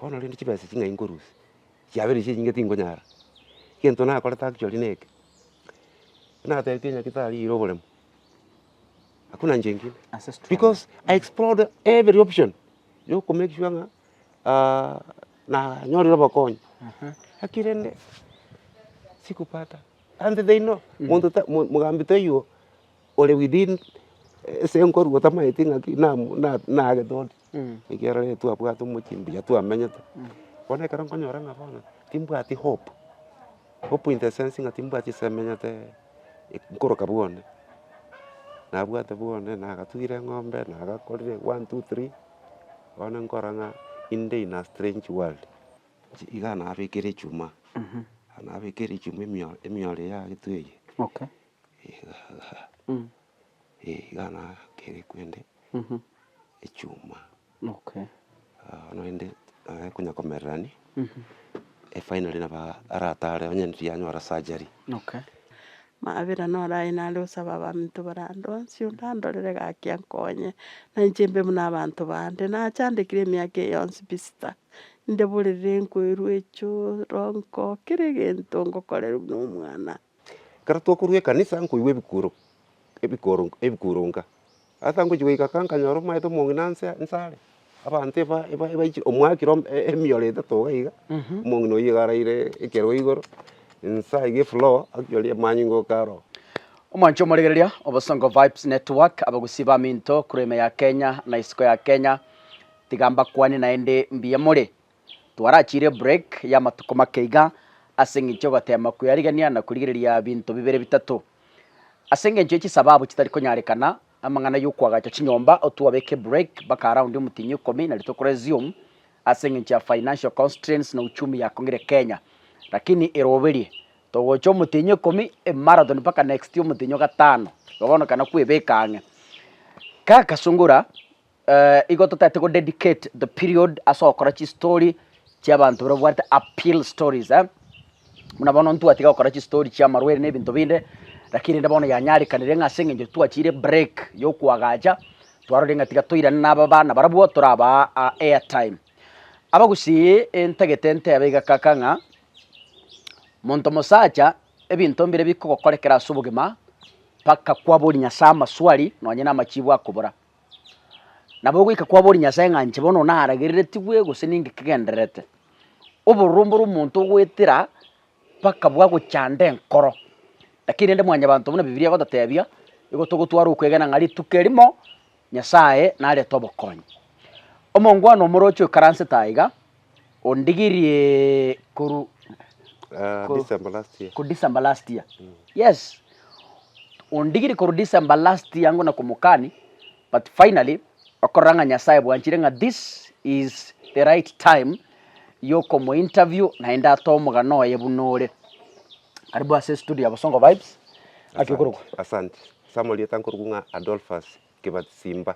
Bono rende chibesa echi ng'ai nkorusia? Chiabeire echi enyinge tingonyara. Egento nakorete actually neke, natebete Nyagetari ira oboremu, hakuna njia ingine. Because I explored every option ya ko make sure ng'a nanyorire obokonyi, lakini rende sikupata. And they know, monto ta, mogambi taiyo ore within ase enkoru otamaeti ng'aki nagete ore. ekiagera rero twabwate omochie mbuya twamenyete, bono ekero nkonyora ng'a bono timbwati hope, hope in the sense ng'a timbwati ase menyete nkoroka bwone, nabwate bwone, nagatugire eng'ombe, nagakorire one, two, three, bono nkora ng'a inde in a strange world. Inche iga nabekire echuma, nabekire echuma emio- emioro eye ya getwe eye. Egagaa, eh iga nagakere kwende echuma. Okay. Aa naende naye konya komererani, eh finally nabo aa aratare onye riria anyora surgery. Okay. Mabera noro aye nare osabe abanto barandonsie, ondandorere gaki ankonye, na inche mbe buna abanto bande, nachandekire emiaka eye yonsi pi sita, ndeborerere nkoirwe echoro, nko kera egento ngokorerwa nomwana. Ekero twakorwa ekanisa nkoigwa ebikuro ebikoro ebikuronka, asa ngochia goika kaa nkanyora omanyete omong'ina nse nse are, abanto eba eba ebaichire omwakire ime emiyore etato iga iga, omong'ina oyio iga araire ekerwa igoro, nse aiga efloor akiyoria amanyinga oka aro. Omwancho omoregereria, Obosongo Vibes Network, abagusii baminto korwa ime ya Kenya na isiko ya Kenya, tiga mbakwane naende mbuya more. Twarachiire break y'amatuko make iga ase engencho y'ogoteema kwerigereria na korigereria binto bibere bitato. Ase engencho ye chisababu chitari konyarekana, amang'ana y'okoagacha chinyomba otwabeke break mpaka around omotienyi ikomi na rituko resume ase engencho ya financial constraints na uchumi yakong'ire Kenya. Lakini eroberie, togocha omotienyi ikomi e marathon mpaka next omotienyi o gatano, igo bono ekana kwebeka ang'e. Kaka sungura. Eh, igo totete go dedicate the period ase okora chistory chiabanto bire bwarete appeal stories eh? buna bono ntwatiga gokora chistory chia marwaire na ebinto binde lakini rende bono yanyarekanire ng'a ase eng'encho twachire break yokwagacha twarorire ng'a tiga toirane na aba bana barabwo torabaa ah, airtime abagusii intagete ntebe iga kaka ng'a monto mosacha ebinto mbire bikogokorekera ase obogima mpaka kwabori nyasae amaswali nonye na amachibu akobora Nabo goika kwabori Nyasae ng'a inche bono naragereretigwe gose ninki kegendererete, oborombe ore omonto ogoetera mpaka bwagochanda enkoro. Lakini rende mwanyabanto buna Bibilia egototebia, nigo togotwara okwegena ng'a rituko erimo Nyasae narete obokonyi. Omongwana omorochi oikaransete aiga. Ondigirie koru koru December last year. ku December last year. Yes. Ondigiri koru December last year ngona komokani but finally okorora ng'a Nyasaye bwanchire ng'a this is the right time yokomo interview naende atoe omogano oye buna ore. Karibu ase studio ya Bosongo Vibes. Naki okorokwa. Asante. Ase amarieta nkorokwa ng'a Adolphus Kibasimba.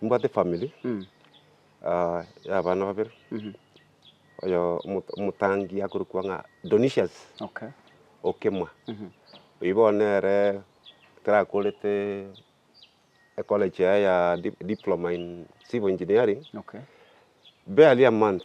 Nimbwate efamiri ya abana babere, oyo omotangi akorokwa ng'a Donisius Okemwa. Oyio bono nere tarakorete ecollege yaye ya Diploma in Civil Engineering, barely a month.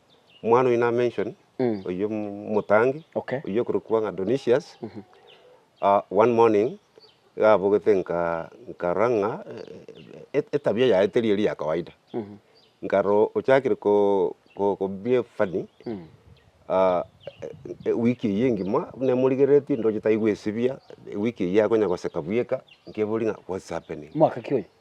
omwana oyio na mention oyio omotangi Okay. oyio okorokwa ng'a Donisius ah, one morning iga abogete nka nkarora ng'a eh, etabia yaye teri eri ya kawaida nkarora ochakire ko ko ko behave funny ah, eh, ewiki eyio engima buna emorigereretie ndoche taigwesibia ewiki eyio akonya goseka bweka nkeburia ng'a what's happening Mwaka ki oyo?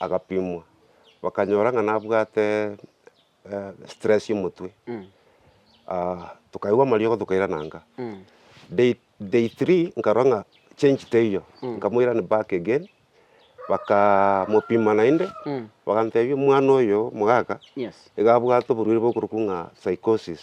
agapimwa, bakanyora ng'a nabwate stress y'omotwe, tokaigwa amariogo tokairana nka. Day day three nkarora ng'a change teiyo, nkamoirani back again, bakaa mopima naende, bagantebia omwana oyo omogaka, iga abwate oborwaire bokorokwa ng'a psychosis.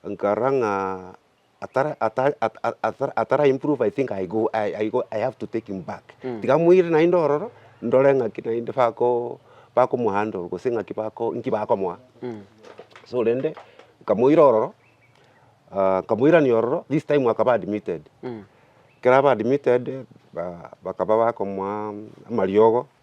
Nkarora ng'a atara atara atara atara improve I think I go I go I have to take him back. Tiga moire naende ororo, ndore ng'aki naende bako bakomo handle gose ng'aki bako nki bakomoa. So rende, nkamoira ororo, nkamoirania ororo, this time akaba admitted. Ekero aba admitted, ba bakaba bakomoa amariogo,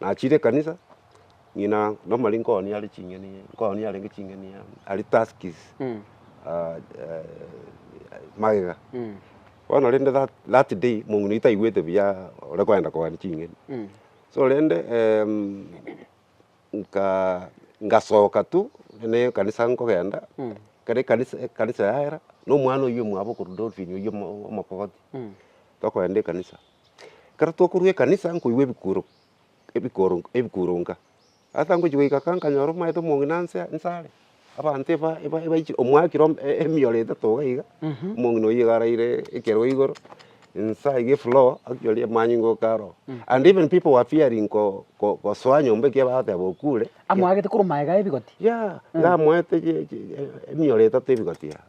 nachire ekanisa, ng'ina nomari nkooni are ching'eni, nkooni arenge ching'eni aria tusks magega. Bono rende that that day mong'ina oyio taigwete buya ore koenda kogania ching'eni. So rende nka ngasoka tu ne ekanisa nkogenda, ekero ekanisa ekanisa yaera, na omwana oyio omwabo okorwa dolphin oyio omokogoti, tokogenda ekanisa. Ekero twakorwa ekanisa nkoigwa ebikuro ebikoro ebikuro nka, asa ngochia goika ka nkanyora omanyete omong'ina nse nse are, abanto eba eba ebaiche omwakire ome e- emioro etato iga iga, omong'ina oyio iga araire ekero igoro, nse aiga efloor akiori amanyinga oka aroo, and even people were fearing ko ko kosoa nyomba ekiya bagateba okure. Amwagete korwa magega ya ebigoti? Yeah, iga amoete chi chi emioro etato ebigoti igaa.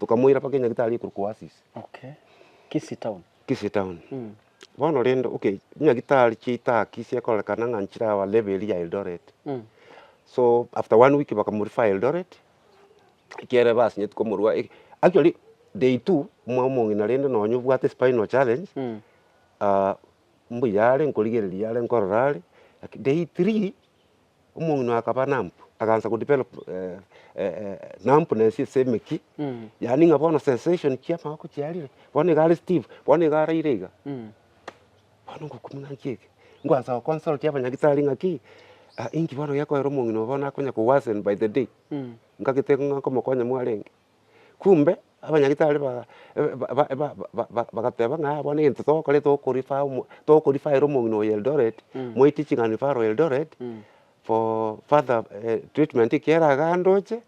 Tokamoira paka enyagitari ekorokwa Oasis. Okay. Kisii town. Kisii town. Mm. Bono rende okay, nyagitari chiaito aa Kisii ekorekana ng'a nchire aa level eria ya Eldoret. Mm. So after one week bakamorefer Eldoret, ekiagera basinyeti komorua e- actually day two omwao omong'ina rende nonye obwate spinal challenge, Mm. ah, mbuya are nkorigereria are nkorora are, laki day three omong'ina oye akaba namp, akaansa go develop numbness ase emeki, yaani ng'a bono sensation chia amaboko chiarire, bono iga are stiff, bono iga araire iga, bono ngokumia ng'a nchie eke, ngoansa go consult abanyagitari ng'a ki, inki bono gekoera omong'ina oyo bono akonya ko worsen by the day, ngagete ng'a nkomokonya mwarenge. Kumbe abanyagitari ba ba ba ba bagateba ng'a bono egento togokora toko refer omo toko refer omong'ina oyo Eldoret, moite ching'ana referral Eldoret, for further treatment ekiagera iga andoche,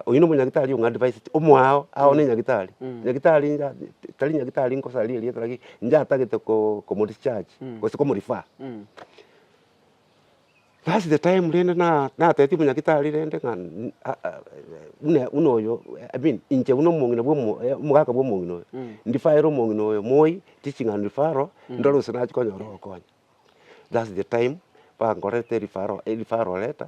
oyio na omonyagitari ong'a advise te omo ao, ao na enyagitari, nyagitari inga tari nyagitari nkosaria erieta, lakini inche atagete ko komo discharge gose komo refer. That's the time rende natebitie omonyagitari rende ng'a buna buna oyo I mean inche buna omong'ina bwa omogaka bwa omong'ina oyo, ndifaere omong'ina oyo moi riching'ana referral ndore gose nachi konyora ogokonya. That's the time bankorete referral referral letter.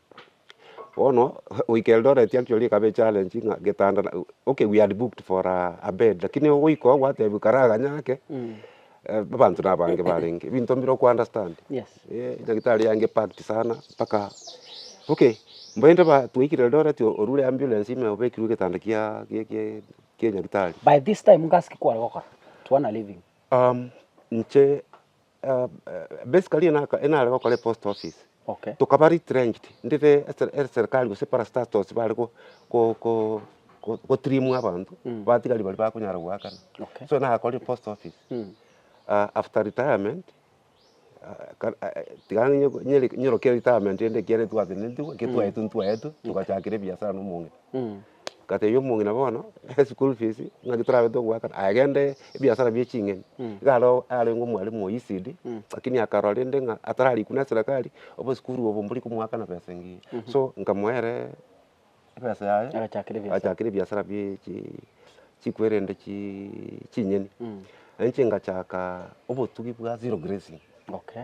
Bono goika Eldoret actually ekaba echallenge ng'a getanda okay we had booked for a bed lakini ogoika oo gwatebiwa karaganya ake abanto nabange barenge ebinto mbire oko understand nyagitari yange packed sana mpaka okay mbainte ba twaikire Eldoret orure ambulance ime obekirwe getanda kia kia nyagitari. By this time ngasi ki kware gokora? Tuana living. Inche. basically enare gokora epost office, tokaba retrenched ndire eserikari gose parastatus bare gotrimwa abanto, abatigari baria bakonyara goakana, so nakorire post office, after retirement tiga nyorokie retirement ende ekiagera twagatenenitigwe, ekero twaetwe ntwaetwe, togachakera ebiasara na omong'ina. Ngatebia omong'ina bono eschool fees ng'aki torabe togoaka aye gende ebiasara bie ching'eni. Iga aro arenge omwalimu o ECD lakini akarora rende ng'a atararikwa na eserekari obosukuru obo mbori komoaka na besa engiya. So nkamoa ere ebesa yaye Agachakera ebiasara. agachakera ebiasara bie chi chikwerende chii ching'eni. Nainche ngachaka obotugi bwa zero grazing. Okay.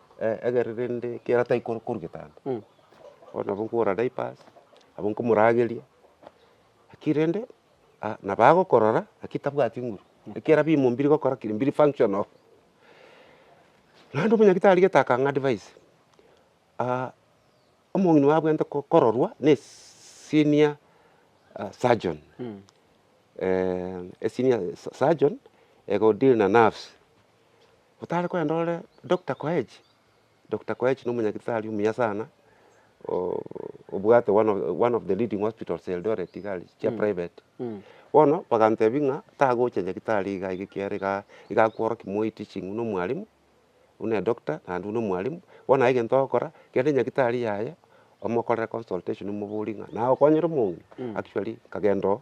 egere rende ekiagera tari korwa korwa getanto, bono nabo nkogora diapers, nabo nkomorageria, lakini rende nabo agokorora lakini tabwati nguru, ekiagera bimo mbiri gokora ki? Mbiri functional. Naende omonyagitari gete akang'a advice, omong'ina oye abwenerete kororwa ne senior surgeon, esenior surgeon ego deal na nerves. otare kogenda ore Doctor Koech, Doctor Koech na omonyagitari omuya sana, obwate one of one of the leading hospitals Eldoret iga aria, chia private. Bono bagantebia ng'a tagocha nyagitari iga iga ekiagera igaa iga akworokia moi teaching buna omwalimu, buna edoctor naende buna omwalimu, bono aye egento ogokora, genda nyagitari yaye, omokorere consultation omoborie ng'a naye okonyire omonge, actually nkagenda oo.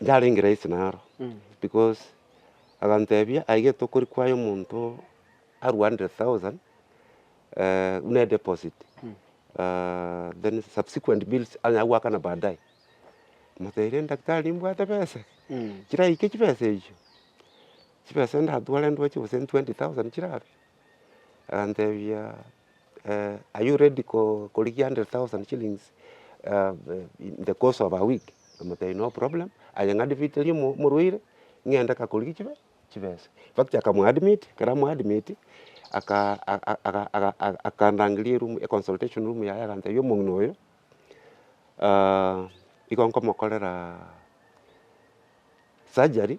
Yarenge rahisi naro, because agantebia aye gento okori kwaya omonto arue hundred thousand buna edeposit then subsequent bills anyare goakana baadaye. Namotebirie daktari nimbwate besa chiraike chibesa echio, chibesa ndatware ndoche gose twenty thousand chirabe? Agantebia. are you ready korigia hundred thousand shillings in the course of a week? Nkamotebia no problem, aye ng'admiterie omorwaire, ng'ende kakorigie chibe chibesa. Infact akamoadmit, ekero amoadmiti, aka akandangeria eroom econsultation room yaye agantebia omong'ina oyo igo nkomokorera surgery.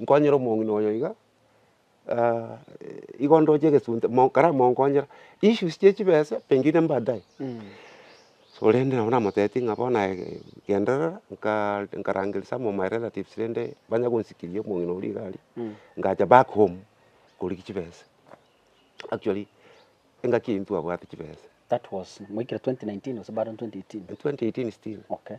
Nkonyera omong'ina oyo iga, igo ndoche egesunte, mo kare monkonyera, issues chie chibesa pengine mbaadaye. Korende nabo namotebitie ng'a bono aye genderera, nkaa nkarangeria some of my relatives rende banye gonsikiri omong'ina oria iga aria, ngacha back home korigia chibesa. Actually, engaki eyio ntwabwate chibesa. That was moikire twenty nineteen gose bado twenty eighteen? Twenty eighteen still. Okay.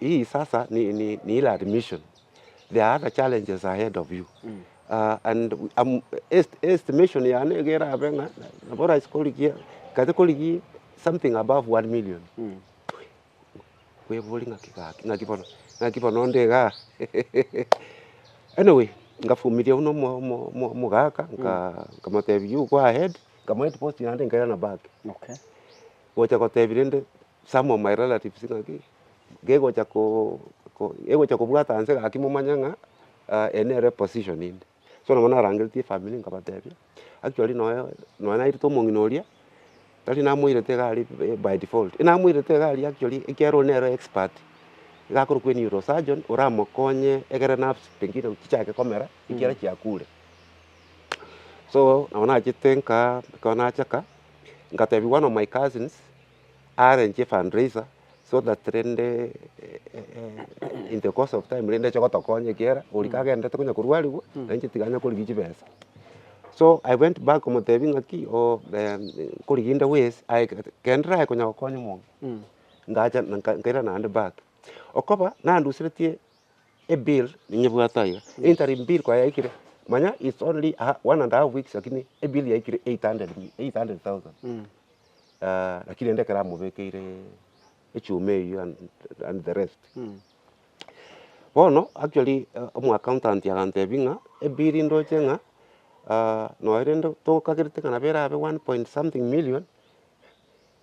Hii sasa ni, ni, ni ile admission. There are other challenges ahead of you. Uh, and um, est, estimation yane egera abe ng'a nabo rais korigia kate korigia something above 1 million. Kwebori ng'aki gaki ng'aki bono ng'aki bono onde iga. anyway, ngafumiria uno omo- omo- omo- omogaka nka- nkamotebia you go ahead nkamoa post yande nkera na back Okay. gocha gotebia rende some of my relatives ng'aki, gegocha ko egocha kobwata nse gaki momanye ng'a eye nere position inde. So nabo narangeretie efamiri nkabatebia, actually nonya nonya nairete omong'ina oria, tari namoirete iga aria by default, namoirete iga aria actually ekiagera oria nere expert iga akorokwa eneuro surgeon oramokonye egere nerves pengine chichake komera ekiagera chiakure. So nabo nachete nkaa ekero nachaka, nkatebiwa one of my cousins arrange fundraiser so that rende in the course of time rende ache gotokonya ekiagera oria kagenderete konya korwarigwa nere inche tiga nyakorigia chibesa. So I went back komotebia ng'aki oo nkorigia inde wise aye gete kero ndiraye konya gokonya omonto ngacha nkaira naende back. Okoba nanduseretie ebill ninyebwate aiga, interim bill koba yaikire manya it's only one and a half weeks lakini ebill yaikire eight hundred thousand. lakini rende ekero amobekeire echuma eyio and and the rest. Bono actually omo accountant agantebia ng'a ebill ndoche ng'a noe rende tokagerete ng'a nabo erabe one point something million,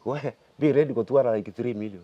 waya be ready gotwara like three million.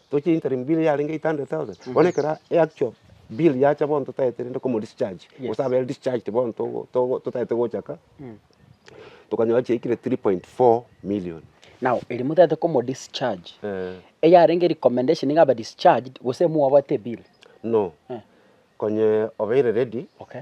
Tochia interim bill yarenge 800,000 bono ekero e actual bill yacha bono totagete rende komo discharge Yes. gose abere discharged bono togo togo totagete gochaka tokanyora chiaikire 3.4 million. Now erio motagete komo discharge Eh eyarenge recommendation niga abe discharged gose mwabwate ebill? No Eh. konye obeire ready Okay.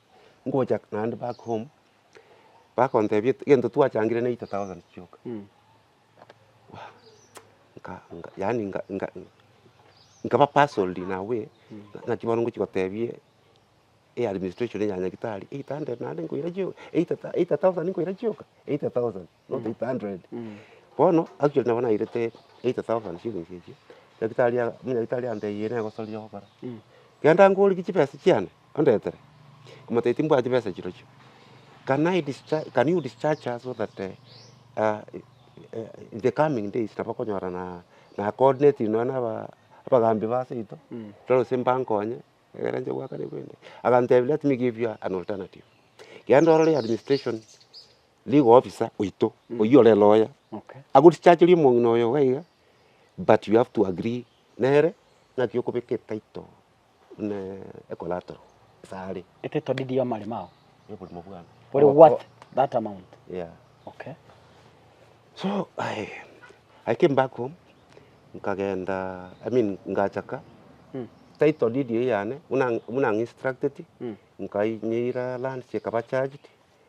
ngocha naende back home, bakontebia egento twachangire ne eight thousand chioka, nka- nka- yaani nka- nka- nkaba puzzled in a way, naki bono ngochia gotebia e administration ya nyagetari eight hundred naende nkoira chio eight thou- eight thousand nkoira chioka, eight thousand. not eight hundred. Bono actually nabo nairete eighty thousand shillings echio, daktari aa- omonyaritari antebirie negosoria ogokora. Genda ngorigia chibesa chiane ondetere, omotebi timbwati chibesa chirochio. Can I discharge, can you discharge her so that in the coming days nabo okonyora na na coordinating nonya na aba abagambi ba seito, tore gose mbankonye, egere nche goakana ebibe ebi. Agantebi let me give you an alternative, genda orore administration. Nigo officer oito oyio ore lawyer agorichacheria omong'ina oyo iga iga but you have to agree nere naki okobeka etitle buna ecollateral ase are. Etitle deed ya amaremo ao. Ya oboremo bwane. Ore worth that amount. Yeah. Okay. So I, I came back home nkagenda I mean ngachaka mm. title deed yane buna, buna instructed mm. nkainyeira lands ekaba charged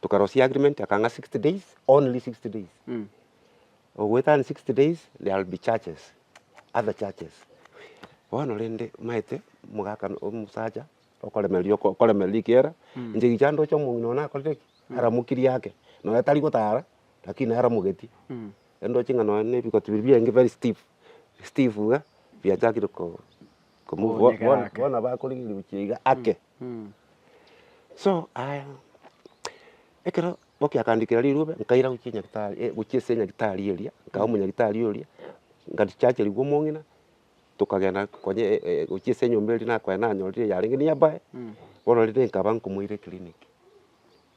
tokarosia agreement akang'a sixty days only sixty days ogoetania sixty days there will be charges other charges bono rende maete mogakana omosacha okoremereria oko okoremereria rikiera inche gicha ndoche omong'ina one nakorire ki aramokirie ake nonya tari gotara lakini nere aramogetie erio ndoche ng'a nonya na ebigoti biria biaye very stiff stiff iga biachakire ko komove bo bono bono nabo akorigereria gochia iga ake. So aya, ekero Bobi akandikera rirube, nkaira gochia nyagetari gochia ase nyagetari eria, nkabe omonyagetari oria, ngarichacherigwa omong'ina, tokagenda konyia gochia ase enyomba eria nakoenda nanyorire eyarenge niabae, bono rende nkaba nkomoira eclinic.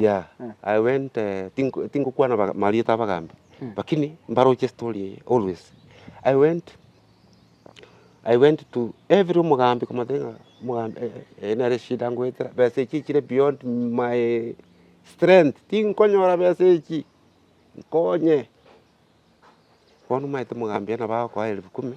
Yeah, I went eh, tink- tinkokwana baga- marieta abagambi lakini mbaroche story eye always I went I went to every omogambi komotebia ng'a omogambi eh, eh, eye nere eshida ngoetera besa echi echire beyond my strength tinkonyora besa echi nkonye bono omanyete omogambi aye nabo agokoa elfu kumi.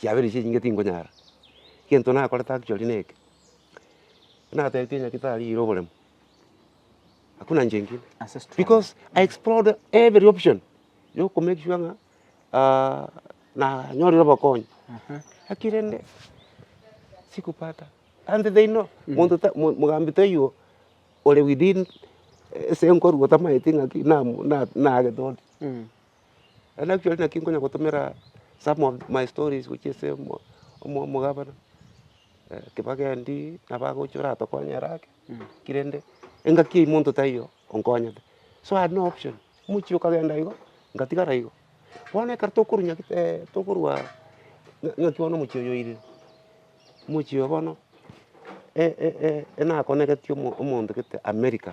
Chiaberechi enyinge tinkonyara, egento nakorete actually neke, natebeti onye tarire oboremo, hakuna njia ingine Ase struggle. because I explored every option ya oko make sure ng'a nanyorire obokonyi, lakini rende sikupata and they know monto ta mo- mogambi taiyo ore within ase enkoru otamaeti ng'aki namu na- naagete ore. Naende actually naki nkonya gotomera some of my stories gochia ase omogabana, kebage endii, nabagocha oratokonye ere ake, ki rende engaki ya omonto taiyo onkonyete. So I had no option, omochie okagenda igo, ngatigara igo. Bono ekero tokorwa nyak tokorwa ng'aki bono omochie oyo oirire, omochie oyo bono nakoneretie omonto gete america.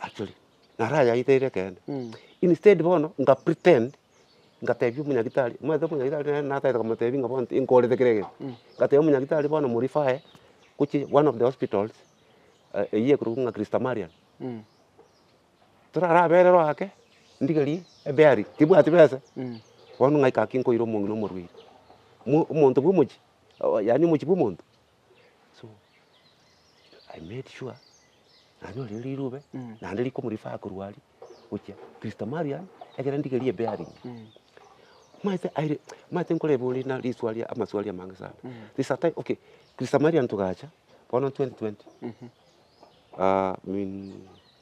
Actually, naro ayaeteire ekeene, instead bono nga pretend ngatebia omonyagitari, omanyete omonyagitari nere natagete komotebia ng'a bono nkorete kera egento, ngatebia omonyagitari bono mo refer gochia one of the hospitals eywo ekorokwa ng'a Christ Amarian, torabererwe ake, ndigerie ebearing, tibwati besa, bono ng'aika ake nkoira omong'ina omorwaire, mo omonto bwa omochie, yaani omochie bwa omonto. so I made sure nanyorire rirube naende riko omo refer korwa aria gochia Christo Marian ekero ndigerie ebearing maete aire maete nkore ebori na riswari amaswari amange sana there is a time okay Christo Marian togacha bono twenty twenty in.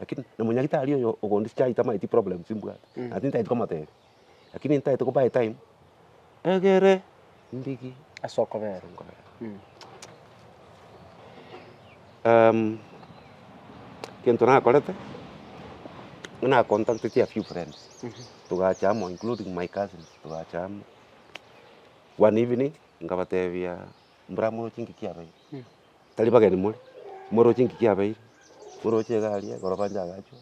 Lakini na monyagitari oyo ogonde chiai tamaeti problems mbwate na tintaeti komotebia. Lakini ntaete ko buy time egere ndigi ase okobera. Egento nakorete buna nacontacteti a few friends togacha amo including my cousins togacha amo one evening nkabatebia mbwamoroche ngiki abeire. tari bageni more, moroche engaki yabeire, moroche egari ekero bancha agachwa,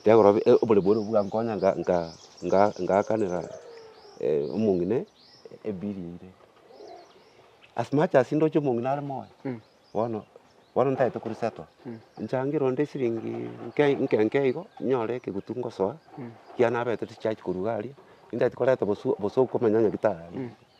kegoro bi- e- oboremu boria bwankonya nga- nga- nga- ngaakanera omong'ina ebili eira. As much as ndoche omong'ina are moyo, bono, bono ntagete kori settle, nchangere onde esiringi nke nke nke igo, nyore ekegutu ngosoa, ekiagera nabete chicharge korwa iga aria, ntagete koreta bosio bosa okomenya onye gitari aria.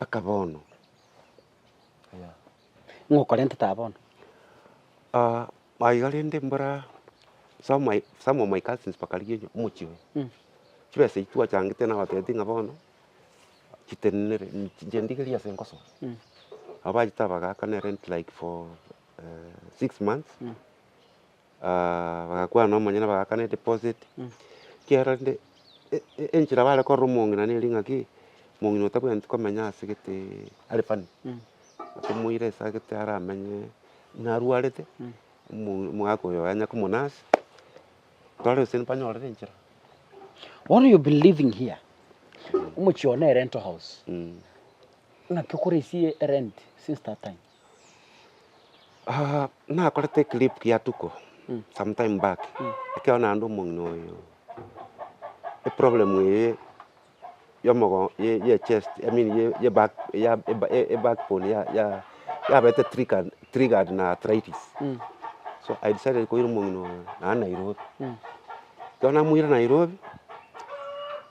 Aka bono, ng'a okorentete aa bono. Ah, aiga rende mbora some my, some of my cousins bakarigia onye- omochie oyo. Chibesa echi twachangete nabatebitie ng'a bono, chitenenere, chinche ndigerie ase nkosoro. Nabo bachete abagaaka ne rent like for eh, six months. bagakwana nomonyene bagakana edeposit, ekiagera rende enchera bare korora omong'ina nere ng'a ki, omong'ina otabwenereti komenya ase gete are funny, otomoira ase agete aramenye ng'a arwarete, omogaka oyo yanya ko monurse, tware gose mbanyorere enchera. Bono you've been living here, omochie oo ne rental house, ng'aki okoresie erenti since that time? nakorete eclip ya tuko sometime back, ekero naende omong'ina oyo eproblem eye ya omogongo ya echest i mean ya eback ya eback bone yabete triggered triggered na arthritis, so i decided koira omong'ina oyo naende nairobi, ekero namoira nairobi.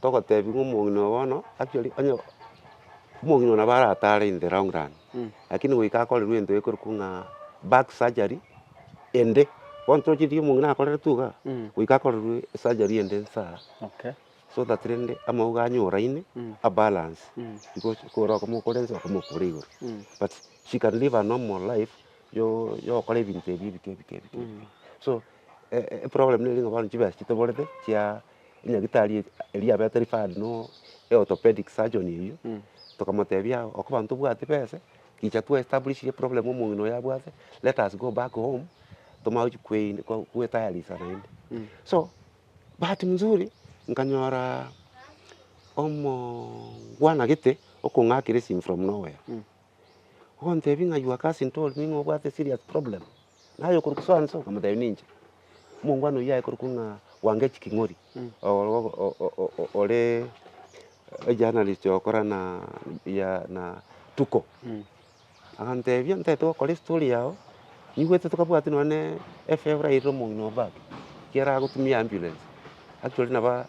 togotebiwa ng'a omong'ina oyo bono actually onye omong'ina oyo nabo aratare in the long run, lakini goika akorerwe egento gekorokwa ng'a back surgery ende, bono toroche riria omong'ina akoreretwe iga, goika akorerwe esurgery ende nsa aa, so that rende amauga anyoraine a balance because kore okomokora ense okomokora igoro but she can live a normal life yo yokora ebinto ebi ebike ebike ebike, so eproblem nere ng'a bono chibesa chitoborete chia. enyagitari eri eria yabete referred no eorthopedic surgeon eywo, tokamotebia aye okobana tobwati besa, gicha twa establish ire problem omong'ina oyo abwate, let us go back home, tomanye gochia kwei ko kwetayarisha naende. So bahati mzuri nkanyoraa omo bwana gete okong'akera esimi from nowhere. Ogontebia ng'a your cousin told me ng'a obwate serious problem, naye okorokwa so and so, nkamotebia ninche. Omongwana oyio aye korokwa ng'a Wangeci King'ori, oo- oo- o- o- o- o- oree ejournalist ogokora na ya na Tuko, agantebia ntagete gokora estory yago, nigwete tokabwati nonye na efebra eirire omong'ina o back, ekero agotumia ambulance, actually naba.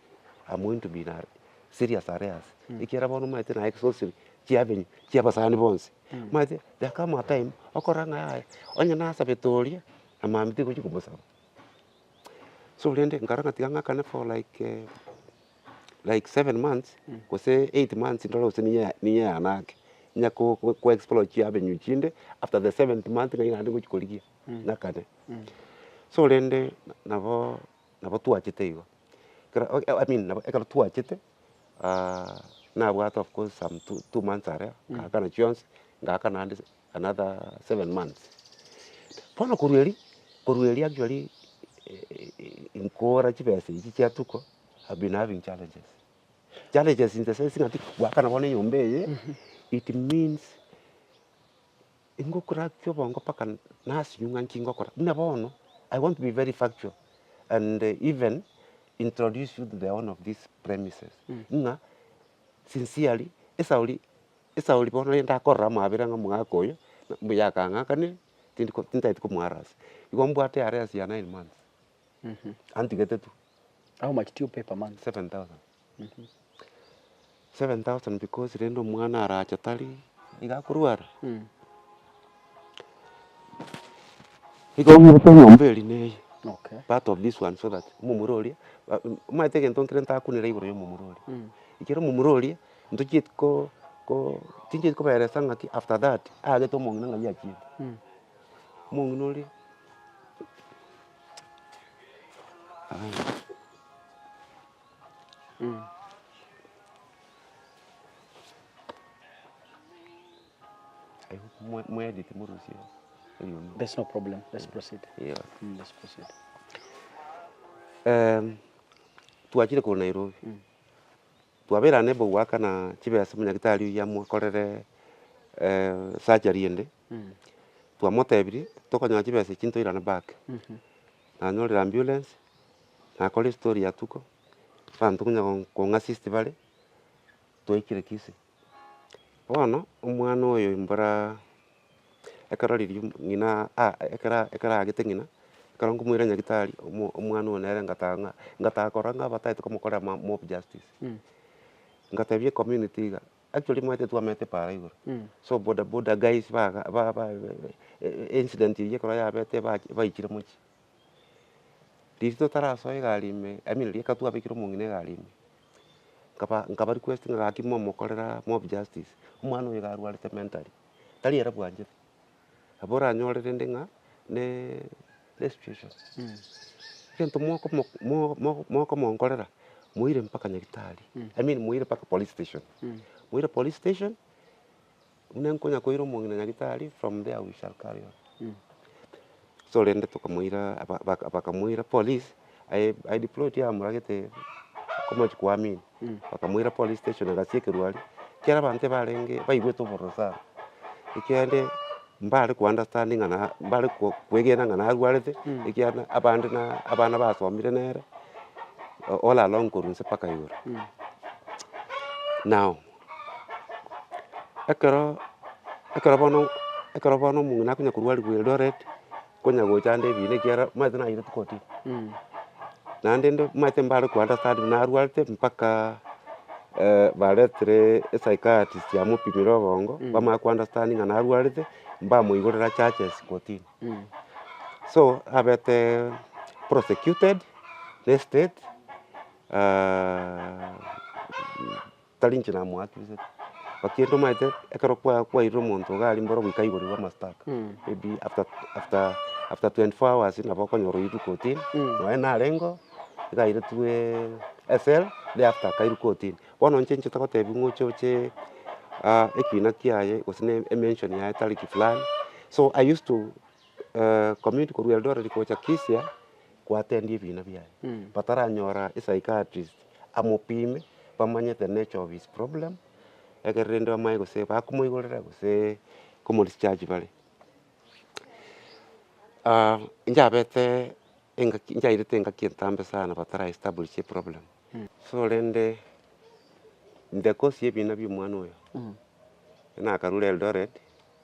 amointo mbino are serious are ase, ekiagera bono omanyete naye exhausted chiabenywa chiabasani bonsi, omanyete there come a time okora ng'a yaya onye nasabete oria na mambia tigochi komosaba. So rende nkarora ng'a tiga ng'akane for like like seven months gose eight months ndore gose ninya ya ninya yane ake, ninya ko- ko- ko explore chiabenywa chinde after the seventh month ng'ai naende ngochi korigia ng'akane. So rende nabo. nabo twachete igo, ekero I mean nabo ekero twachete nabwate of course some two two months aria ngakana chionsi, ngakana naende another seven months. Bono korwa erio, korwa erio actually nkora chibesa echi chia tuko I've been having challenges, challenges in the sense ng'aki, gwakana bono enyomba eye it means. Ingokora ki obongo mpaka nasinywe ng'a nki ngokora? Buna bono, I want to be very factual and even introduce you to the owner of this premises ng'a sincerely esauri esauri bono eye ndakorora amabera ng'a omogaka oyo mbuya akang'akanire tindi ko tintageti komoharassi. Igo mbwate are as ya nine months antigete tu. How much do you pay per month? Seven thousand. Seven thousand because rende omwana arache tari iga akorwara. Igo ng'irete eng'ombe eria na eye Okay. part of this one so that omomura oria ba- omanyete egento nkere ntakunera igoro ya omomura oria. Ekero omomura oria ntochieti ko ko tinchieti kobaelesa ng'aki after that aagete omong'ina ng'ai achiete. Omong'ina oria twachire korwa Nairobi, twaberana na obogoaka na chibesa, omonyagitari oyo amokorere surgery ende. Twamotebirie tokonyaa chibesa echio ntoirane back, nanyorire ambulance, nakora estory ya tuko, abanto konya kong'assist bare, twaikire Kisii. Bono omwana oyo mbora ekero riria ng'ina a- a ekero ekero aagete ng'ina, ekero nkomoira nyagitari, omo omwana oyo nere ngata ng'a ngata korora ng'a abataete komokorera ma mob justice. Ngatebia ecommunity iga. Actually mwaete twamete paara igoro, so bodaboda guys baga ba ba incident eyio ekero yabete bach baichire mochie. Riria totarasoe egari ime, I mean riria ekero twabekire omong'ina egari ime, nkaba nkaba request ng'a gaki momokorera mob justice, omwana oyo iga arwarete mentally, tari ere bwanchete. Nabo oranyore rende ng'a ne nesitueshoni, egento mokomo mo- mo- mokomonkorera moire mpaka nyagetari, I mean moire mpaka police station, moire police station, buna nkonya koira omong'ina nyagetari, from there we shall carry on. So rende tokamoira aba- baka- bakamoira police, aye aye deployed yamoragete omochie koamini, bakamoira police station na gasi ekerwa aria, ekiagera abanto ebarenge baigwete obororo sana, ekiagera rende mbare ko understand ng'a na mbare ko- kwegena ng'a narwarete, ekiagera na abande na abana basomire nere, all along korwa inse mpaka igoro. Now. Ekero, ekero bono, ekero bono omong'ina akonya korwarirwa Eldoret, nkonya gocha ande ebiina ekiagera omanyete nayeireti kotini, naende inde omanyete mbare koandastandinga narwarete mpaka baretere esaikaatist yamopimire obongo, bamanya koandastandinga narwarete, mbamoigorera charges kotini. So abete prosecuted na estate. Tari inche namoakirisete, gaki ntomaete ekero kwa- kwairire omonto iga aria mboro goikaigorigwa amastaka, maybe after after after twenty four hours nabo okonyora oirwe kotini, nonye narengeo, iga airetwe ecell, thereafter akairwa kotini. Bono inche inche togotebia ng'a oche oche ekina kiaye gose ne emension yaye tariki fulani, so I used to commute korwa Eldoret gocha Kisia, gwatendia ebiina biaye bataranyora psychiatrist amopime bamanye the nature of his problem egere rende bamanye gose bakomoigorera gose komodischarge bare. Inchebete engaki nchairete engaki entambe sana batara establish eproblem so rende the cause ya ebiina bia omwana oyo nakarure Eldoret.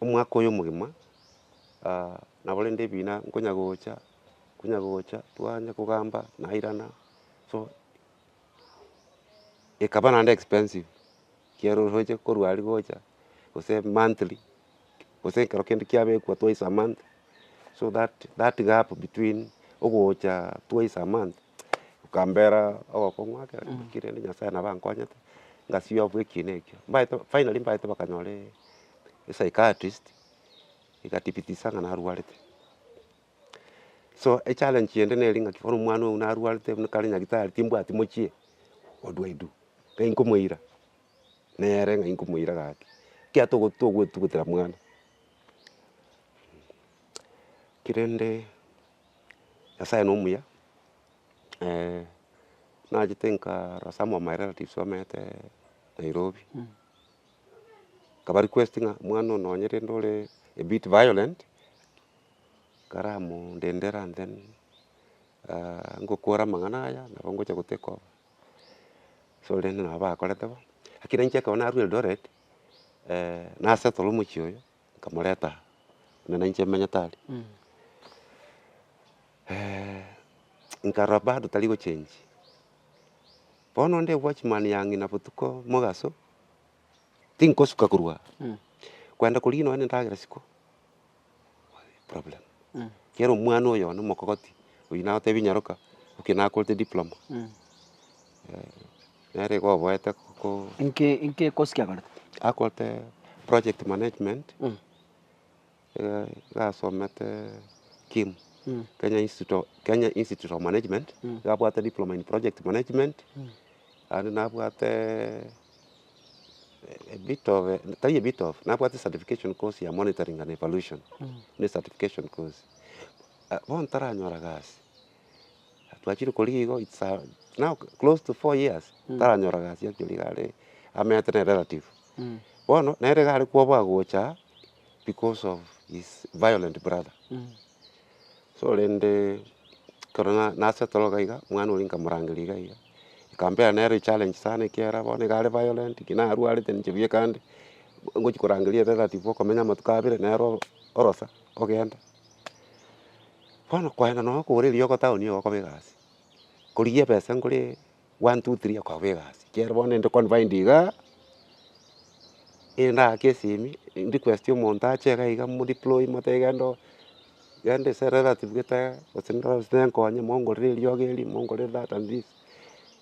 omwaka oyo omogima, nabo rende ebina nkonya gocha, nkonya gocha, twanya kogamba nairana, so ekaba naende expensive, ekiagera oroche korwa aria gocha, gose monthly, gose ekero kende kiabekwa twice a month, so that that gap between ogocha twice a month. Okambera ogokong'u ake Mm. naki rende Nyasaye nabo ankonyete, ngasibia obu ekiina ekio. Mbaete finally mbaete bakanyora esaikatrist, egatibitisa ng'a narwarete. So echallenge ende nere ng'aki bono omwana oyo narwarete buna kare nyagitari timbwati mochie, what do I do? Iga inkomoira, nere ng'a inkomoira gaki, kiya togo togoetugutera mwana. Ki rende. Nyasaye nomuya, nachete nkarora some of my relatives bamenyete Nairobi, nkabarequest ng'a omwana oyo nonye rende ore a bit violent, karamondendere and then ngokora amang'ana aya nabo ngocha go take over. So rende nabo bakorete bo, lakini inche ekero narure Eldoret, na settle omochie oyo, nkamoreta buna nainche menyete aria, nkarora bado tari gochenchia. Bono onde watchman ya ng'ina botuko mogaso, tinkosuka korwa aa, kwenda korigia nonye na endagera isiko, problem. Kera omwana oyo one omokogoti, oyio nagotebi nyaroka, oki nakorete diploma. nere igo oboete ko. Inki inki ekosike akorete? Akorete project management, iga iga asomete KIMU, Kenya Institute of Kenya Institute of Management, iga abwate diploma in project management, naende nabwateeee a bit of a tari a bit of, nabwate certification course ya monitoring and evaluation, ne certification course. Bono taranyora gasi. Twachire korigia igo its a now close to four years taranyora gasi actually iga are amenyete na erelative. Bono nere iga are koboa gocha because of his violent brother. So rende ekero na nasettle iga iga omwana oria nkamorangeria iga iga, nkampea nere echallenge sana ekiara bono iga are violent ki narwarete ninche buya kande ngochi korangeria erelative okomenya amatuko abere nere orosa ogenda. Bono kwaenda nonya okogora eriogo town iga okoba egasi, korigia ebesa nkore one, two, three okoba egasi. Ekiagera bono ninde confined igaa, erinde aake esimi, request omonto ache iga iga mo deploy motebi genda oo, genda ase relative gete igaa, gose ndoe gose nenkonye mongorere eriogo eri, mongorere that and this.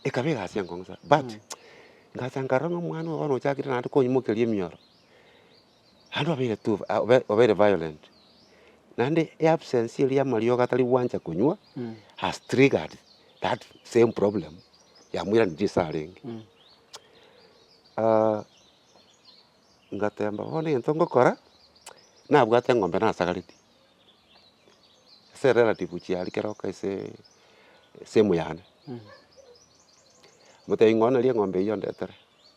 Ekaba egasi enkong'u sana but, ngacha nkarora ng'a omwana oyo bono ochakire naende koimokeria emioro. Naende obeire too obeire violent, naende eabsence eria y'amariogo atari gwancha konywa has triggered that same problem yamoiranetie ase arenge. Ngateeba bono egento ngokora, nabwate eng'ombe nasagaretie, ase relative ochia aria kera oka ase esehemu yane, omotebi ng'a onye nari eng'ombe eyio ondetere.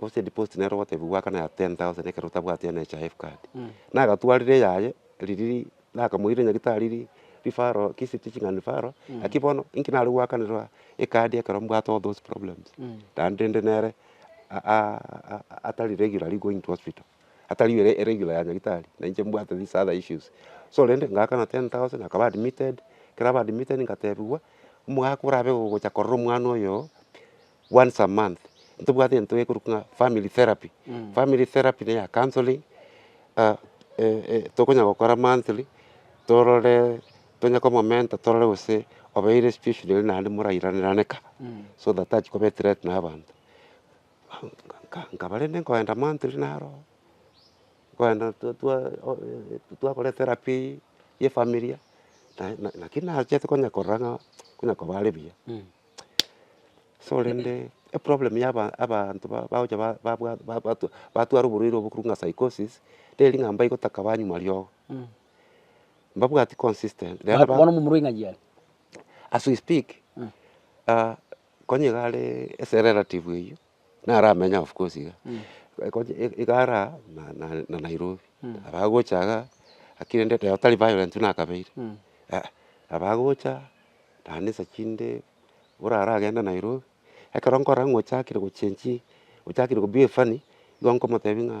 gose deposit nere ogotebia gwakana ya ten thousand ekero otabwati NHIF card, nagatwarire eyaye riria nakamoire nyagetari referral ki si teaching and referral lakini bono inki nare goakanerwa ecard ekero mbwate all those problems naende rende nere atari regularly going to hospital, atari regular ya nyagetari na inche mbwate these other issues. So rende ngaakana ten thousand akaba admitted, ekero aba admitted ngatebiwa omogaka orabe ogocha korora omwana oyo once a month, ntobwate egento gekorwa ng'a family therapy, family therapy na eya counselling tokonya gokora monthly torore tonya komomenta torore gose obeire situation ere naende morairanerane ka, so that tachi koba ethreat na abanto. Nkaba rende nkoenda monthly naro, nkoenda twa twa twakora etherapy eywo ya efamiri, na- na- naki nachete konya korora ng'a konya koba are buya. So rende eproblem ya aba- abanto ba- bagocha ba- babwa ba- batwa batwara oborwaire obo korwa ng'a psychosis, teri ng'a mbaigotaka banywa riogo, mbabwati consistent rero ba- Bono momura ing'ayi are. as we speak, ah, konya iga are ase relative eywo, naramenye of course iga, eko iga ara na na Nairobi, abagocha iga lakini rende rero tari violent buna akabeire, eh, abagocha naende nsa chinde buna aragende Nairobi, ekero nkorora ng'a ochakire gochengi, ochakire ko behave funny, igo nkomotebia ng'a.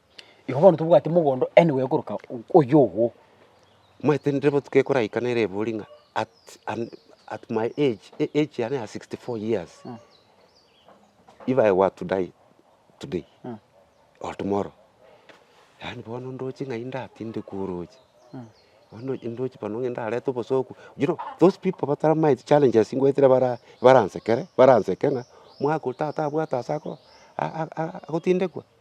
Igo bono tobwate mogondo anywhere koroka oyio ogo. Mwaetendire botuko ekoraika nere ebori ng'a at and at my age, e- age yane ya 64 years, Mm. if I were to die today Mm. or tomorrow, yaani bono ndoche ng'ai ndatindekwe oroche, Mm. bono ndoche ndoche bono ng'ende arete obosoku. You know those people bataramaeti challenges ngoetera bara baransekere baranseke ng'a, mwaka oyo tata abwate ase ako a- a- a- agotindekwa.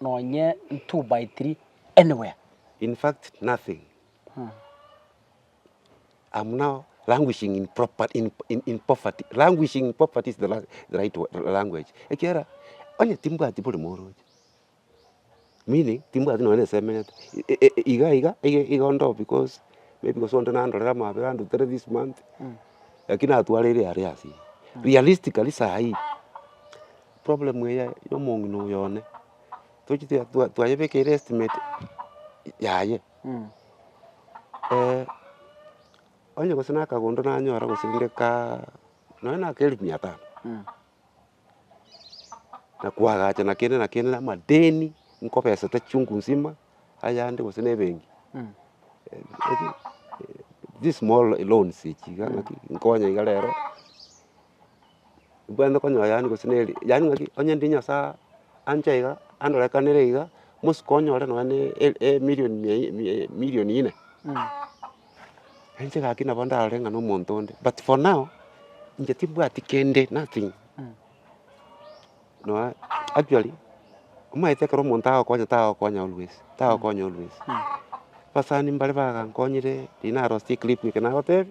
nonye two by three anywhere. In fact nothing am now languishing in proper in in in poverty languishing in poverty is the la the right wo language ekiagera onye timbwati bore moroche meaning timbwati nonye na esemenete i- i- i- iga iga iga iga onde oo because maybe gose onde nandorere amabera andutere this month lakini natwara ere aria ase eye realistically sahi. Problem eye yomong'ina oyo one, tochi- tea- twa- twayebekeire estimate yaye onye gose na akagondo nanyora gose rende kaa nonya na aka elfu mia tano, na koagacha na kende na kende na amadeni nkobesete chungu nsima, ayande gose na ebenki these small loans echi iga ng'aki nkonye iga rero. mbwenerete konyora yaani gose neri yaani ng'aki onye ndi nyasaye anche iga andorekanere iga, bosuka onyore nonye na e- e- emilion mia i- mia i- emilion ine, inche gaki nabo ndarore ng'a na omonto onde but for now, inche timbwati kende nothing, noe actually omanyete ekero omonto agokonya tagokonya always, tagokonya always, abasani mbare bagankonyire riria narosirie clip eke nagotebi.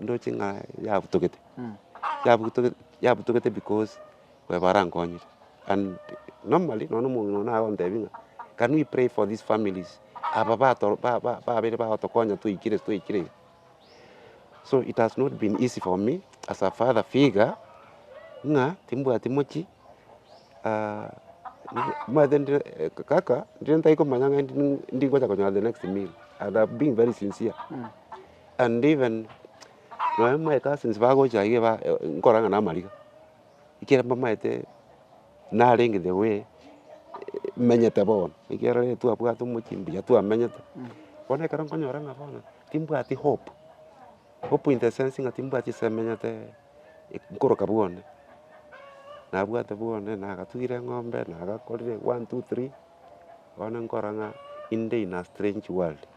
ndoche ng'a yabutogete, yabutogete yabutogete because baye barankonyire and normally nonye na omong'ina one nagontebia ng'a can we pray for these families aba bato ba- ba- babere bagotokonya twaikire twaikire iga. So it has not been easy for me as a father figure ng'a timbwati mochi nimanyete ndire kaka ndire ntari komanya ng'a ndi- ndi- ndingocha konyora the next meal and am being very sincere. and even nonya my cousins bagocha iga ba nkorang'ana amariga, ekero mbamaete narenge the way menyete bono, ekiagera rende twabwate omochie mbuya twamenyete, bono ekero nkonyora ng'a bono timbwati hope, hope in the sense ng'a timbwati ase menyete nkoroka bwane, nabwate bwane nagatugire eng'ombe, nagakorire one, two, three, bono nkora ng'a inde in a strange world.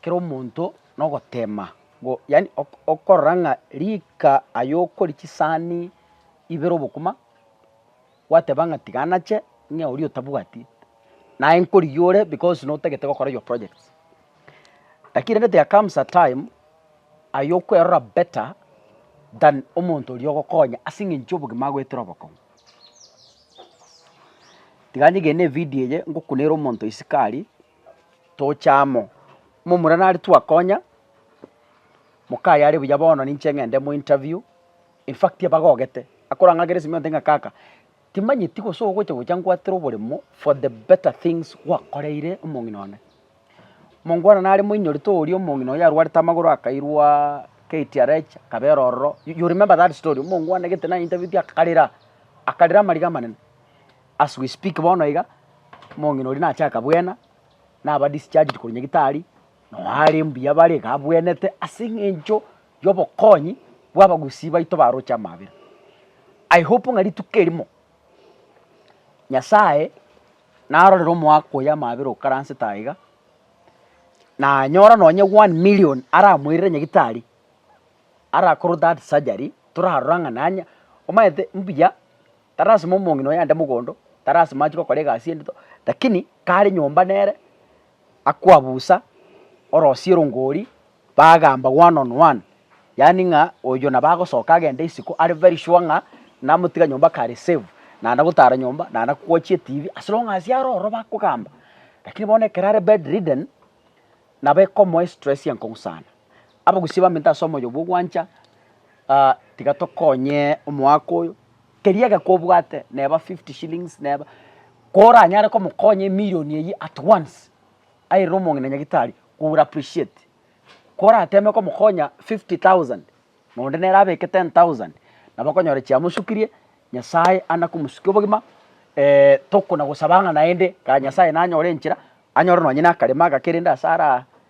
kera omonto nogotema ngo yaani okorora ng'a rika aye okoria chisahani ibere obokima, gwateba ng'a tiga nache ng'e oria otabwati, naye nkorigia ore because notagete gokora your projects. Lakini rende there comes a time aye okwerora better than omonto oria ogokonya ase eng'encho obogima agoetera obokong'u. Tiga ng'egene evidio eye ngokunere omonto isiko aria. tocha amo. Momura nare twakonya, mokaye are buya bono ninche ng'ende mo interview, in fact abagogete, akorang'akere esimi onte ng'a kaka, timanyeti gose ogocha gocha ngwatere oboremo for the better things gwakoreire omong'ina one. Mongo one nare moinyorete oria omong'ina oyo arwarete amagoro akairwa KTRH akabera ororo, you remember that story, omongo one gete nainterviewete akarera, akarera amariga amanene. As we speak bono iga, omong'ina oria nache akabwena, naba discharged korwa nyagetari, noo are mbuya bare iga abwenete ase eng'encho y'obokonyi bwa abagusii baito baroche amaabera. I hope ng'a rituko erimo, Nyasaye narorere omoaka oyo amaabera okaransete aye iga, nanyora nonye one million aramoirere nyagetari, arakorwa that surgery, torarora ng'a nanya omanyete mbuya. tarasima omong'ina oye ande mogondo, tarasima achie gokora egasi endeto, rakini kare nyomba nere, akwabusa orosie rongori, bagamba one on one, yaani ng'a oyio nabo agosoka agende isiko are very sure ng'a namotiga nyomba kare save, naende gotara nyomba, naende kwochi etibi, as long as are ororo bakogamba. Rakini bono ekero are bedridden, nabo ekomoa estress enkong'u sana. Abagusia bamenete ase omoyo bw'ogwancha, tiga tokonye omoaka oyo, keria egeka obwate neba fifty shillings neba, koranyare komokonya emirion eywo at once, airire omong'ina nyagetari we will appreciate, korateme komokonya fifty thousand, na onde nere abeke ten thousand, nabo okonyora chiamosukirie, Nyasaye ande komosukia obogima tokona gosaba ng'a naende, Nyasaye nanyore enchera, anyore nonye nakarema agake rende ase araa.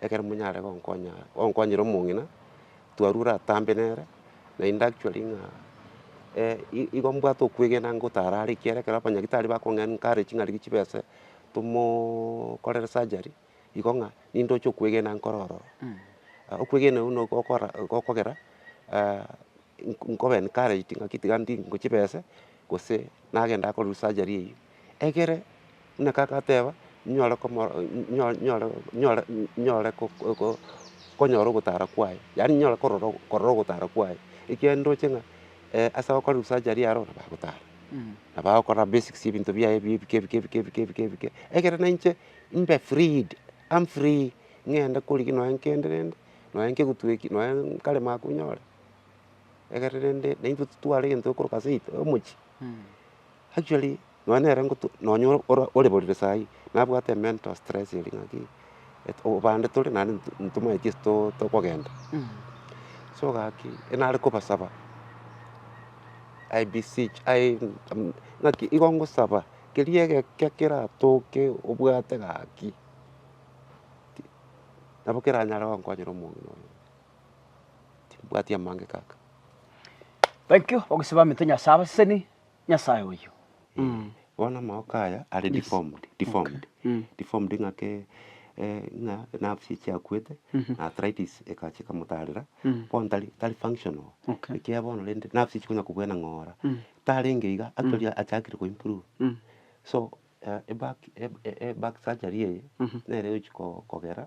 ekero monyare gonkonya gonkonyera omong'ina, twarwa oratambe nere, naende actually ng'a i- igo mbwate okwegena ngotara are ekiagera ekero abanyagitari bakong'a nkare ching'aribi chibese tomooo korere surgery, igo ng'a nindoche okwegena nkore ororo. Okwegena okwo nigo gokora gokogera nko- nkobe encouraged ng'aki tiga ndingochibese, gose nagenda akorerwa surgery eywo. Ekere ng'ake agateba, nyore komoro nyore nyore nyore nyore ko- ko- ko konyora ogotara kwaye, yaani nyore korora ogo korora ogotara kwaye, ekiagera ndoche ng'a ase abakore ebisacharia aro nabo bagotara, nabo bagokora basics ya ebinto biaye bi ebike ebike ebike ebike ebike ebike, ekere na inche mbe freed, am free ng'ende korigia nonye kende rende, nonye nkegutu eki, nonye nkarema koba nyore, ekere rende naintwe titware egento ekero korwa ase omochie. Actually nonya nere ngotu nonya ore oreborire saii nabwate emental stress eria ng'aki obande tore naende ntomanye gesi to tokogenda. So gaki nare kobasaba I beseech I ng'aki igo ngosaba keria egeke keratoke obwate gaki nabo keranyare gokonyera omong'ina oyo. timbwati amange kaka. Thank you ogosiba amete Nyasaye abaseseni Nyasaye oyio. Eeh bono amaoka aya are Yes. deformed deformed Mm. deformed ng'ake eh, ng'a nerves chiakwete Mhm. na arthritis ekacha ekamotarera Mm. bono tari tari functional Okay. ekiagera bono rende nerves chikonya kobuana ng'ora Mm. tarenge iga actually achakire ko improve Mm. so Eback eback surgery eye nere egochi kogera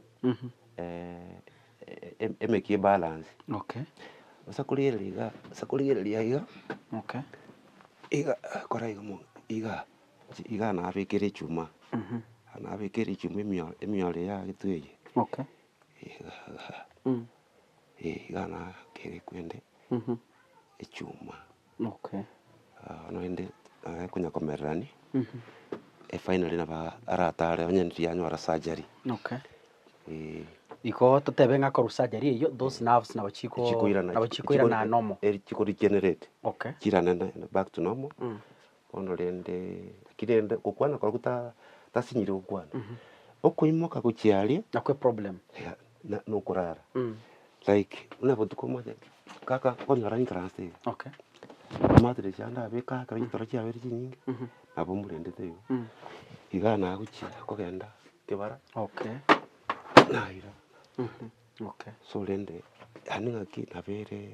emeki ebalance ase korigereria igaa ase korigereria iga iga kora iga mono igaa igaa nabekire echuma iga nabekire echuma emioro emioro ya egetwe eye igaa nakere kwende echuma. Naende aye konya komererani efainari nabo aratare onye riria anyora surgery. Igo totebe ng'a akorwa surgery eyio those nerves nabo chikoirana nomo. Chikorigenerate chiranene back to normal Bono rende, lakini rende gokwana korokwo ta- tasinyire gokwana, okoimoka gochia aria Nakwo eproblem. ya- na- na okorara. Like buna botuko omoche, kaka nkonyora entrance taiga, Okay. mattress ande abe kaka ekero chitoro chiabere chinyinge, nabo mbwendete igo. Igaa nagochia kogenda kebara, Okay. naira. Okay. So rende, aende ng'aki nabere.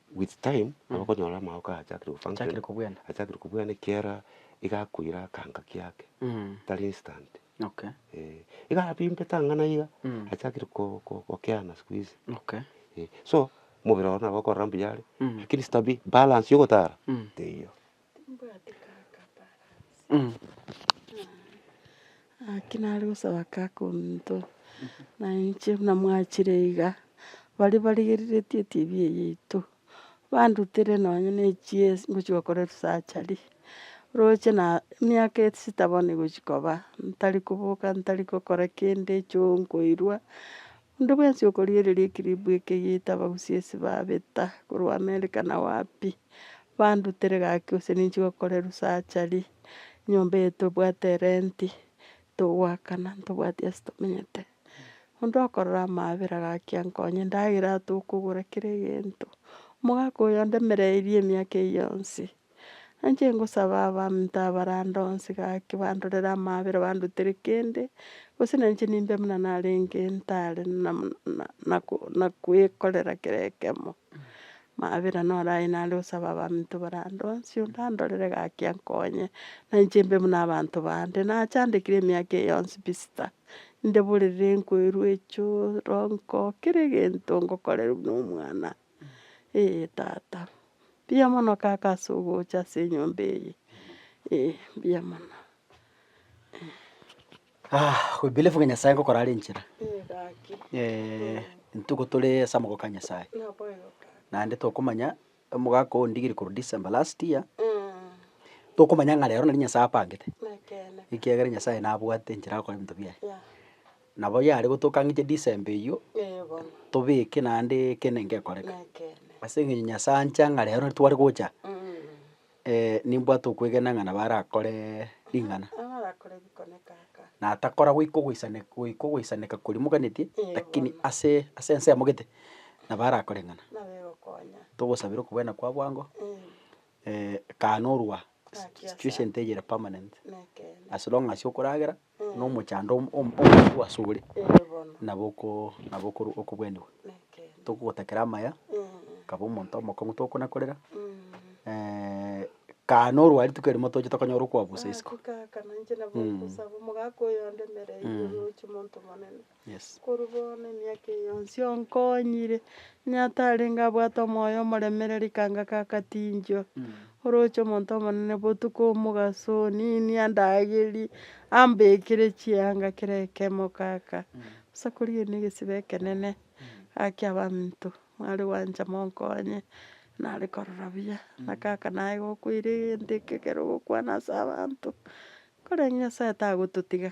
With time abakonyora amagoka achakire Achakire kobwena. achakire kobwena ekiera iga akoira akanka kiake Mm. tari instant Okay. eh, iga abimbe tang'ana iga Mm. achakire ko- ko- gokeana siku hizi Okay. eh, so mobere one nabo okorora mbuya are Mm. lakini stabi balance yogotara Mm. teiyo. Timbwati kaka balance ah naki nare gosaba kaka ominto na inche buna mwachire iga, baria barigereretie etv eye yaito, bandutire nonya ne echie- ngochia gokora esurgery, roche na emiaka esita bono egochia koba, ntari koboka, ntari gokora kende, choo nkoirwa, Onde bwensi okoriereria ekiribu eke yaita abagusi ase babeta korwa Amerika na wapi, bandutere gaki gose ninche gokorerwa surgery, enyomba eye tobwate rent, togoakana ntobwati ase tomenyete. Onde okorora amaabera gaki ankonye, endagera tokogora kera egento. Omogaka oyo ondemereirie emiaka eye yonsi, Nainche ngosaba abanto abarande onsi gaki bandorere amaabera bandutere kende, gose nainche nimbe buna narenge ntare nam- na- nako- nakoekorera kera ekemo, maabera naro aye nare gosaba abanto barande onsi onde andorere gaki ankonye, nainche mbe buna abanto bande, nachandekire emiaka eye yonsi pi sita, inde borere nkoirwe echoronko, kera egento ngokorerwa nomwana. Ee tata, mbuya mono kaka ase ogocha ase enyomba eye, ee mbuya mono. we believe ng'a Nyasaye ngokora are enchera, Ee gaki. ntuko tore ase amaboko a Nyasaye, Naboigo kaka. naende tokomanya omogaka oo ondigirie korwa December last year, tokomanya ng'a rero nari Nyasaye apangete, Nekeene. ekiagera Nyasaye nabwate enchera agokora ebinto biaye. Yeah. Nabo yare gotoka ng'che December eyio tobeke naende ekero gekoreka. Ase eng'encho Nyasaye ancha ng'a rero tware gocha nimbwate okwegena ng'a nabo arakore ring'ana. Natakora goika ogoisaneka koria moganetie lakini ase ense amogete nabo arakore ring'ana. Togosabera okobwena kwa bwango kaanorwa situation teyire permanent as long as okoragera. nomochando om- om- omokuwa asore, Eeh bono. nabo oko nabo okoro okobwenigwa. Nekeene. Tokogotakera amaya, kaba omonto omokong'u tokonakorera, kaa norwari tikerimo toche tokonyora okoabusa isiko. Hakika hakana inche nabo Mm. nkosaba omogaka oyondemere Mm. oyochia omonto omonene. Korwa bono emiaka eye yonsi onkonyire, onye atarenge abwate omoyo omoremereri kanga kakatinchwa, oroche omonto omonene botuko omogaso oninie andagerie, ambekere chianga kera ekemo kaka, bosa korigereria ne egesibe ekenene, gaki abanto mware gwancha monkonye, nare korora buya, na kaka naye gokoira egento eke ekero ogokwana ase abanto, korende Nyasaye tagototiga,